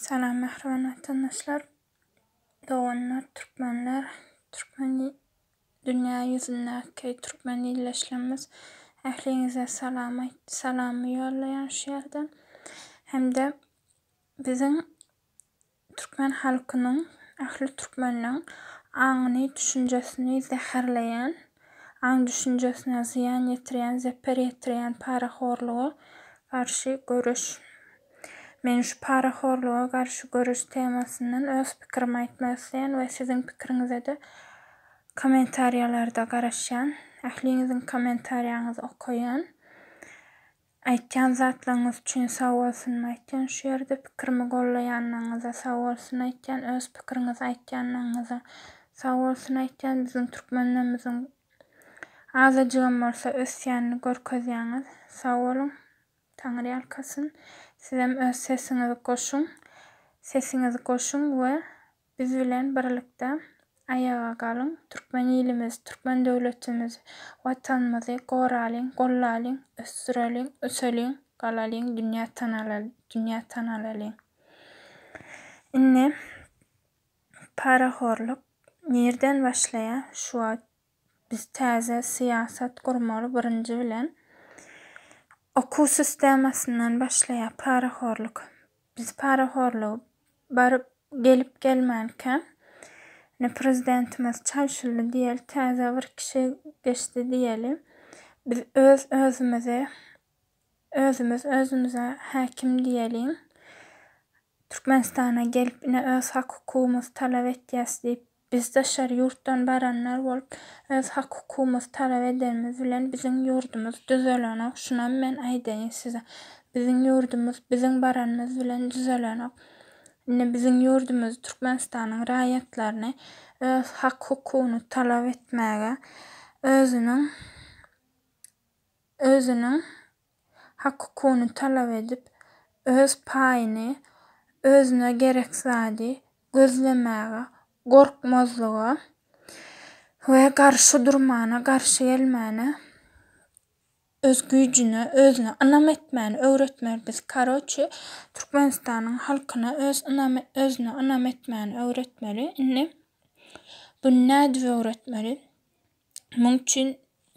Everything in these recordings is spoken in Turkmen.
Salam mähriban watandaşlar, doganlar, türkmenler, türkmen dünýä ýüzündäki türkmen ildeşlerimiz ähliňize salam aýt salamy ýollaýan şu ýerden hem-de biziň türkmen halkynyň ähli türkmeniň aňyny düşünjesini zäherleýän aň düşünjesine zyýan ýetirýän zeper ýetirýän parahorluga garşy göreş Men şu parahorluga garşy göreş temasyndan öz pikirimi aýtmak isleýän we siziň pikiriňize-de kommentariýalarda garaşýan. Ähliňiziň kommentariýaňyzy okaýan. Aýtýan zatlaryňyz üçin sag bolsunymy aýtýan şu ýerde, pikirimi gollaýanlygyňyza sag bolsun aýtýan, öz pikiriňizi aýtýanlygyňyza sag bolsun aýtýan. Biziň türkmenlerimiziň azajygam bolsa ösýänini görkezýäňiz. Sag boluň. Taňyrýalkasyn sizem öz sesiňizi goşuň sesiňizi goşuň we biz bilen birlikde aýaga galyň türkmen ilimizi türkmen döwletimizi watanymyzy goralyň gollalyň ösdüreliň öseliň galalyň dünýä tanalalyň dünýä tanalalyň indi parahorlyk nirden başlaýa şu wagt Biz täze syýasat gurmaly birinji bilen okuw sistemasyndan başlaýar parahorlyk. Biz parahorlygy baryp gelip gelmänkä ine prezidentimiz çalşyldy diýeli täze bir kişi geçdi diýeli biz öz özümizi özümiz özümize häkim diýeliň Türkmenistana gelip ine öz hak hukumymyzy talap etýäs diýip biz daşary ýurtdan baranlar bolup öz hak hukumymyzy talap edenimiz bilen biziň ýurdumyz düzelenok şunam men aýdaýyn size biziň ýurdumyz biziň baranymyz bilen düzelenok indi biziň ýurdumyzy Türkmenistanyň raýatlaryny öz hak hukugyny talap etmäge özüniň özüniň hak-hukugyny talap edip, öz paýyny, özüne gerek zady gözlemäge gorkmazlyga we garşy durmana, garşy gelmäne, öz güýjüne, özüne ynam etmäni öwretmeli biz. Karoçi, Türkmenistanyň halkyna öz ynam, özüne ynam etmäni öwretmeli. Indi buny nädip öwretmeli? Muň üçin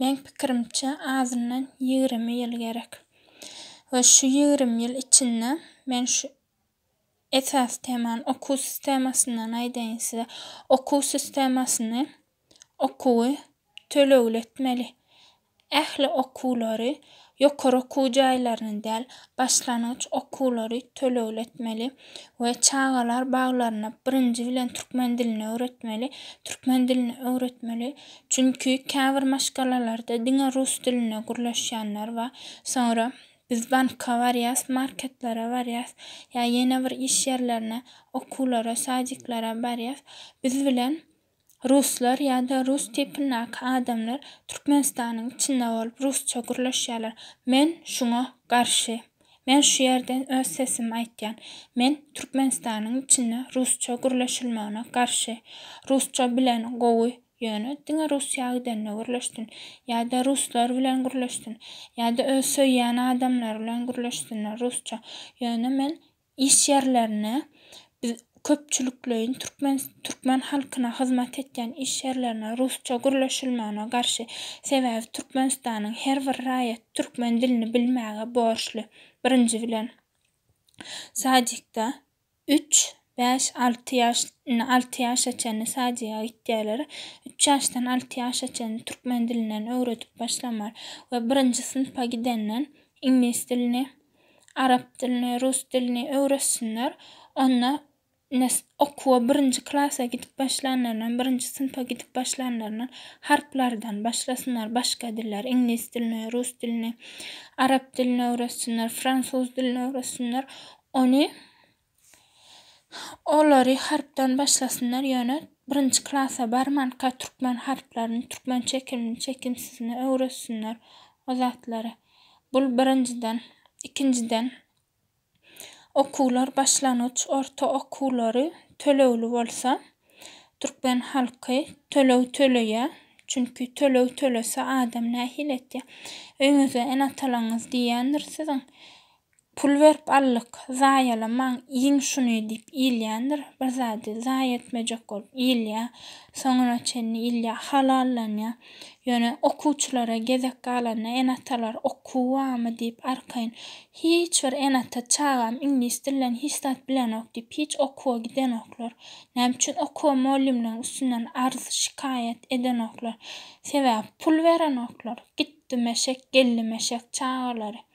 meň pikirimçe azyndan ýigrimi ýyl gerek. We şu ýigrimi ýyl içinde men şu esasy temany okuw sistemasyndan aýdaýyn size. Okuw sistemasyny okuwy tölegli etmeli. Ähli okuwlary Ýokary okuw jaýlaryny däl, başlangyç okuwlary tölegletmeli we çagalar baglaryna birinji bilen türkmen dilini öwretmeli, türkmen dilini öwretmeli, çünki käbir maşgalalarda diňe rus dilinde gürleşýänler bar, soňra biz banka barýas, marketlere barýas, ýa ýene bir iş ýerlerine, okuwlara, sadiklara barýas, biz bilen Ruslar ýa-da rus tipindäki adamlar Türkmenistanyň içinde bolup rusça gürleşýärler. Men şuňa garşy. Men şu ýerden öz sesimi aýtýan. Men Türkmenistanyň içinde rusça gürleşilmegine garşy. Rusça bilen gowy, ýöne diňe Russiýa gidende gürleşsin. Ýa-da ruslar bilen gürleşsin. Ýa-da öz söýýän adamlary bilen gürleşsinler rusça. Ýöne men Iş ýerlerine biz köpçülikleýin türkmen türkmen halkyna hyzmat etýän iş ýerlerine rusça gürleşilmegine garşy sebäbi türkmenistanyň her bir raýaty türkmen dilini bilmäge borçly birinji bilen sadikda üç bäş alty ýaş indi alty ýaşa çenli sadiga gitýärler üç ýaşdan alty ýaşa çenli türkmen dilinden öwredip başlamaly we birinji synpa gidenden iňlis dilini arap dilini, rus dilini öwretsinler. Onda nes okuwa birinji klasa gidip başlanlaryndan, birinji synpa gidip başlanlaryndan harplardan başlasynlar, başga diller, iňlis dilini, rus dilini, arap dilini öwretsinler, fransuz dilini öwretsinler. Ony Olary harpdan başlasynlar ýöne birinji klasa barmanka türkmen harplaryny türkmen çekilini çekimsizini öwretsinler o zatlary bul birinjiden ikinjiden okuwlar başlangyç orta okuwlary tölegli bolsa türkmen halky töleg töleýä çünki töleg tölese adam nähili etýä öýňüzde ene atalaňyz diýýändir siziň Pul berip aldyk, zaýalamaň, iýiň şuny diýip iýilýändir. Bir zady zaýa etmejek bolup iýilýär. Soňuna çenli iýilýär, halallanýar. Ýöne okuwçylara gezek galanda ene-atalar okuw barmy diýip arkaýyn. Hiç bir ene-ata çagam iňlis dilinden hiç zat bilenok diýip hiç okuwa gidenoklar. Näme üçin okuwa mugallymlaryň üstünden arz, şikaýat edenoklar? Sebäbi pul berenoklar. Gitdi meşek, geldi meşek çagalary.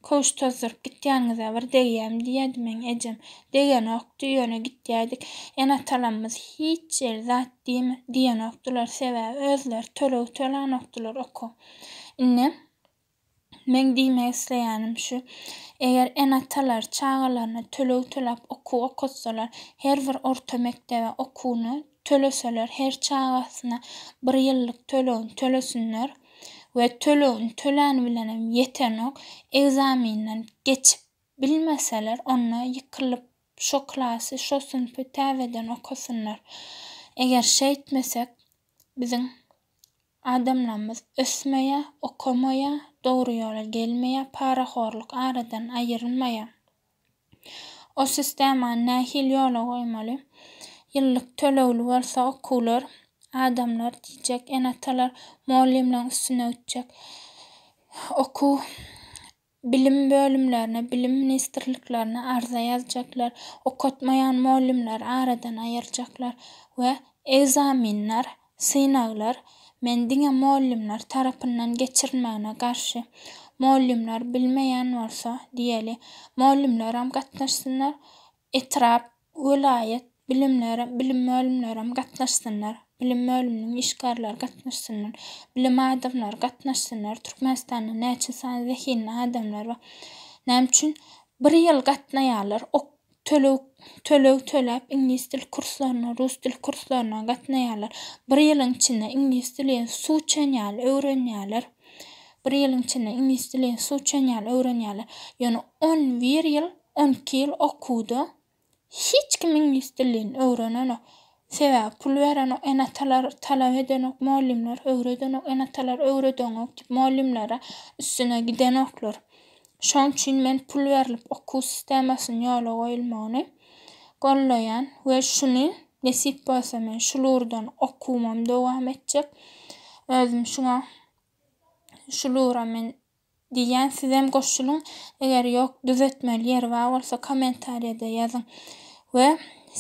Köwüş tozduryp gitýäniňize bir degýämi diýýärdi meň ejem. Degenokdy, ýöne gitýäýdik. Ene-atalarymyz hiç ýeri zat diýme, diýenokdylar, sebäbi özleri töleg tölänokdylar oka. Indi meň diýmek isleýänim şu, eger ene-atalar çagalaryna töleg töläp okuw okatsalar, her bir orta mekdebe okuwyny töleseler, her çagasyna bir ýyllyk tölegini tölesinler, we tölegini töläni bilenem ýetenok, ekzaminden geçip bilmeseler, onda ýykylyp şo klasy, şo synpy täzeden okasynlar. Eger şeýtmesek, biziň adamlarymyz ösmeýär, okamaýar, dogry ýola gelmeýär, parahorluk aradan aýrylmaýar. O sistemany nähili ýola goýmaly? Ýyllyk tölegli bolsa okuwlar, adamlar diýjek, ene-atalar mugallymlaryň üstüne gitjek. Okuw, bilim bölümlerine, bilim ministrliklerine arza ýazjaklar. Okatmaýan mugallymlary aradan aýyrjaklar we ekzamenler Synaglar, men diňe mugallymlar tarapyndan geçirilmegine garşy. Mugallymlar bilmeýän bolsa, diýeli, mugallymlaram gatnaşsynlar, etrap, welaýat bilimler bilim bölümlerem gatnaşsynlar, bilim bölüminiň işgärleri gatnaşsynlar, bilim adamlary gatnaşsynlar, Türkmenistanda näçe sany zehinli adamlar bar, näme üçin bir ýyl gatnaýarlar, ok töleg töleg töläp iňlis dil kurslaryna, rus dil kurslaryna gatnaýarlar. Bir ýylyň içinde iňlis dilin suw içen ýaly öwrenýärler. Bir ýylyň içinde iňlis dilin suw içen ýaly öwrenýärler. Ýöne on bir ýyl, on iki ýyl okuwda hiç kim iňlis dilini öwrenenok. Sebäbi pul berenok enatalar talap edenok mugallymlar öwredenok enatalar öwredeňok diýip mugallymlara üstüne gidenoklar şoň üçin men pul berlip okuw sistemasyny ýola goýulmagyny gollaýan we şuny nesip bolsa men şul urdan okuwymam dowam etjek özüm şuňa şul ura men Diýýän sizem goşulyň eger ýok düzetmeli ýeri bar bolsa komentariýada ýazyň we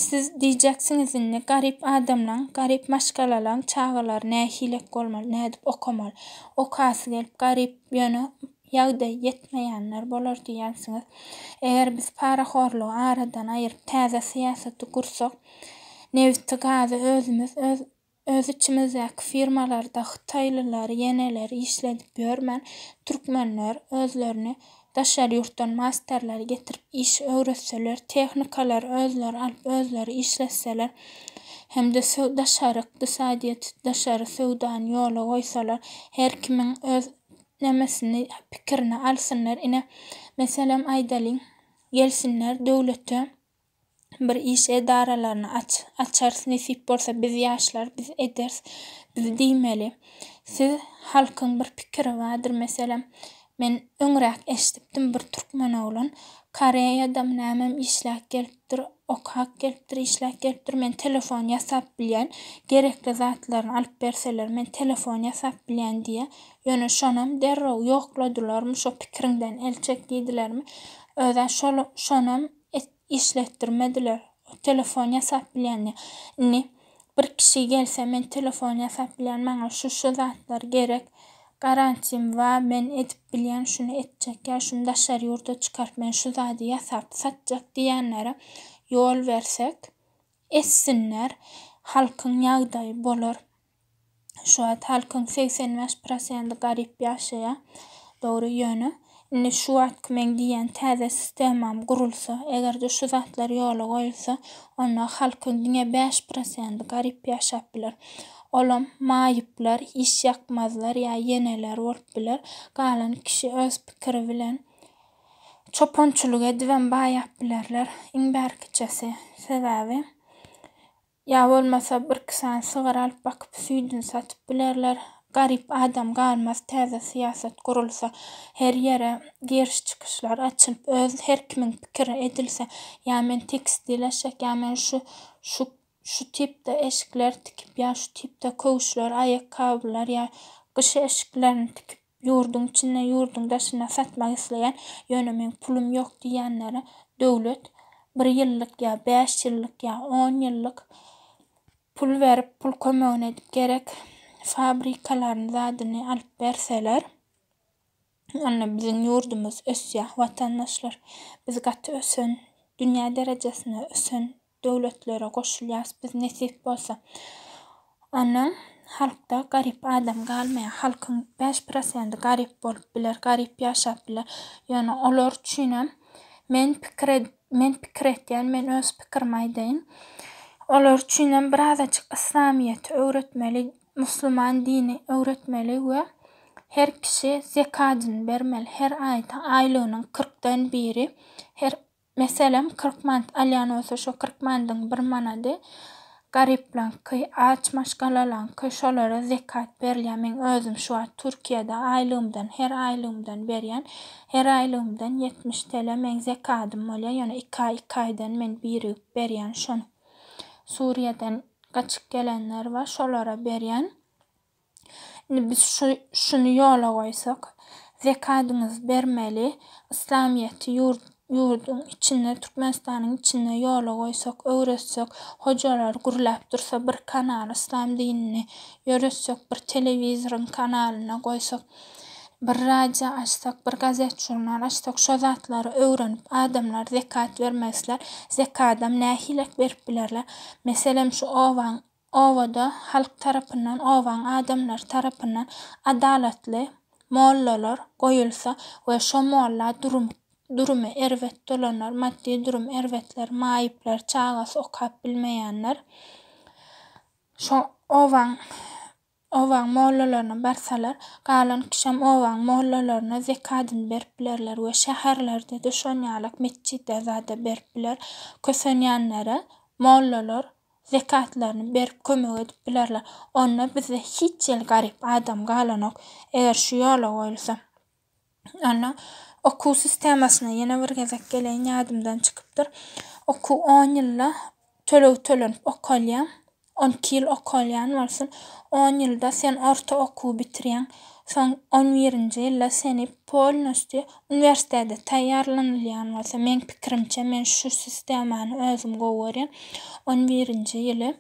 siz diýjeksiňiz indi garyp adamlaň garyp maşgalalaň çagalary nähilek bolmaly nädip okamaly okasy gelip garyp ýöne ýagdaýy ýetmeýänler bolar diýýänsiňiz eger biz parahorlygy aradan aýyryp täze syýasaty gursak nebiti gazy özümiz öz Öz içimizdäki firmalarda hytaýlylar, ýeneler işledip ýörmän, türkmenler özlerini daşary ýurtdan masterleri getirip iş öwretseler, tehnikalary özleri alyp, özleri işletseler hem-de daşary ykdysadyýeti, daşary söwdany ýola goýsalar, her kimiň öz nemesini, pikirini alsynlar. Ine, meselem aýdalyň, gelsinler döwlete. bir iş edaralaryny aç açarys nesip bolsa biz ýaşlar biz ederis biz diýmeli siz halkyň bir pikiri bardyr meselem men öňräk eşdipdim bir türkmen oglan koreýadam nämem işläp gelipdir okap gelipdir işläp gelipdir men telefon ýasap bilýän gerekli zatlaryny alyp berseler men telefon ýasap bilýän diýýä ýöne şonam derrew ýokladylarmy şo pikiriňden el çek diýdilermi özä şol şonam işletdirmediler. O telefon ýasap bilýändi. Indi bir kişi gelse, men telefon ýasap bilýän, maňa şu-şu zatlar gerek, garantim ba, men edip bilýän, şuny etjek ýa şuny daşary ýurda çykaryp men şu zady ýasap satjak diýýänlere ýol bersek, etsinler, halkyň ýagdaýy bolar. Şu wagt halkyň segsen bäş prosendi garyp ýaşaýa. Dogry, ýöne indi şu wagtky meň diýýän täze sistemam gurulsa, eger-de şu zatlar ýola goýulsa, onda halkyň diňe bäş prosendi garyp ýaşap biler. Olam maýyplar, işýakmazlar ýa ýeneler bolup biler. Galan kişi öz pikiri bilen çopançylyk edibem baýap bilerler. Iň bärkiçesi. Sebäbi. Ýa bolmasa birki sany sygyr alyp bakyp süýdini satyp bilerler. Garyp adam galmaz täze syýasat gurulsa. Her ýere giriş çykyşlar açylyp öz her kimiň pikiri edilse. Ýa men tekstil eşek ýa men şu şu şu tipde eşikler tikip ýa şu tipde köwüşler aýakgabylar ýa gyş eşiklerini tikip. Ýurduň içinde, ýurduň daşynda satmak isleýän, ýöne meň pulum ýok diýýänlere döwlet bir ýyllyk ýa bäş ýyllyk ýa on ýyllyk pul berip, pul kömegini edip gerek fabrikalaryny, zadyny alyp berseler, onda biziň ýurdumyz ösýär. Watandaşlar, biz gaty ösen, dünýä derejesinde ösen döwletlere goşulýas biz nesip bolsa. Ondan halkda garyp adam galmaýar. Halkyň bäş prosendi garyp bolup biler, garyp ýaşap biler. Ýöne olar üçinem men pikir men pikir etýän, men öz pikirimi aýdaýyn. Olar üçinem birazajyk yslamyýeti öwretmeli, musulman dini öwretmeli we her kişi zekadyny bermeli. Her aýda aýlygynyň kyrkdan biri her Meselem, kyrk mant alýan bolsa, şo kyrk mandyň bir manady garyplaňky, aç maşgalalaňky, şolara zekat berilýär. Meň özüm şu wagt Türkiýede aýlygymdan, her aýlygymdan berýän. Her aýlygymdan ýetmiş tele meň zekadym bolýar. Ýöne iki aý, iki aýdan men birigip berýän şony. Suriýadan gaçyp gelenler bar, şolara berýän. Indi biz şu şuny ýola goýsak, zekadyňyzy bermeli, yslamyýeti ýurt ýurduň içinde, Türkmenistanyň içinde ýola goýsak, öwretsek, hojalar gürläp dursa, bir kanal yslam dinini ýöretsek, bir telewizoryň kanalyna goýsak, bir radio açsak, bir gazet-žurnal açsak, şo zatlary öwrenip, adamlar zekat bermezler, zekadam nähilek berip bilerler? Meselem, şu obaň Obada halk tarapyndan, obaň adamlary tarapyndan adalatly mollalar goýulsa we şo molla durum durumy erbet bolanlar, maddy durum erbetler, maýyplar, çagasy okap bilmeýänler şo obaň Obaň mollalaryna barsalar, galan kişem obaň mollalaryna zekadyny berip bilerler we şäherlerde de şon ýalak metjide zada berip biler. Kösenýänlere mollalar zekatlaryny berip kömek edip bilerler. Onda bizde hiç ýyl garyp adam galanok, eger şu ýola goýulsa. Onda okuw sistemasyna ýene bir gezek geleýin, ýadymdan çykypdyr. Okuw on ýylda töleg tölenip okalýar. On iki ýyl okalýan bolsun, on ýylda sen orta okuwy bitirýäň. Soň on birinji ýylda seni polnusty uniwersitete taýýarlanylýan bolsa, meň pikirimçe, men şu sistemany özüm gowy görýän. On birinji ýyly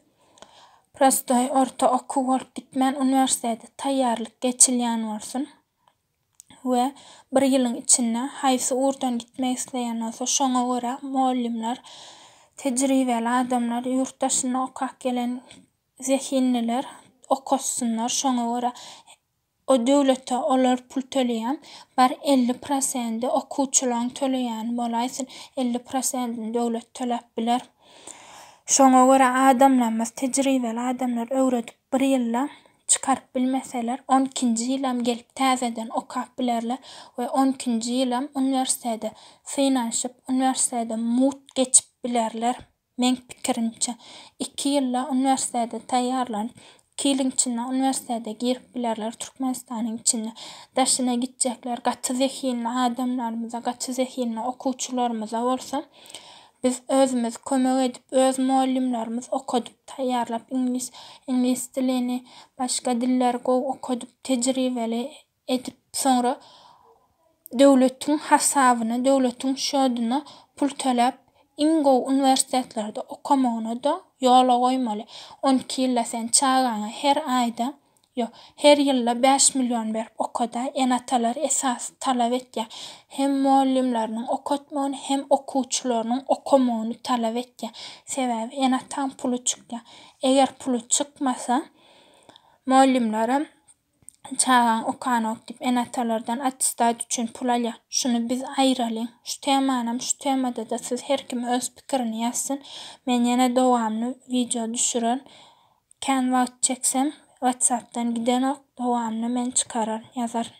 prostoý orta okuw bolup gitmän, uniwersitete taýýarlyk geçilýän bolsun. we bir ýylyň içinde haýsy ugurdan gitmek isleýän bolsa, şoňa görä mugallymlar, tejribeli adamlar, ýurt daşyndan okap gelen zehinliler okatysynlar. Şoňa görä o döwlete olar pul töleýär. Bar elli prosenti okuwçylaryň töleýäni bolaýsyn, elli prosentini döwlet töläp biler. Şoňa görä adamlarymyz, tejribeli adamlar öwredip bir ýylda Çykaryp bilmeseler, on ikinji ýylam gelip täzeden okap bilerler we on ikinji ýylam uniwersitede synanyşyp, uniwersitede mugt geçip bilerler. Meň pikirimçe, iki ýylda uniwersitede taýýarlanyp, iki ýylyň içinde uniwersitede girip bilerler Türkmenistanyň içinde. Daşyna gitjekler gaty zehinli adamlarymyza, gaty zehinli okuwçylarymyza bolsa Biz özümiz kömek edip öz mugallymlarymyz okadyp taýýarlap iňlis iňlis dilini başga dilleri gowy okadyp tejribeli edip soňra döwletiň hasabyna döwletiň şoduna pul töläp iň gowy uniwersitetlerde okamagyna da ýola goýmaly on iki ýylda sen çagaňa her aýda Ýok. Her ýylda bäş million berip oka-da, ene-atalar esasy talap etýär. Hem mugallymlarynyň okatmagyny, hem okuwçylarynyň okamagyny talap etýär. Sebäbi ene-ataň puly çykýar. Eger puly çykmasa, mugallymlaram çagaň okanok diýip, ene-atalardan attestat üçin pul alýar. Şuny biz aýyralyň. Şu temanam şu temada-da siz her kim öz pikirini ýazsyn. Men ýene dowamly wideo düşürerin. Kän wagt çeksem WhatsAppdan gidenok dowamyny men çykarar ýazaryn.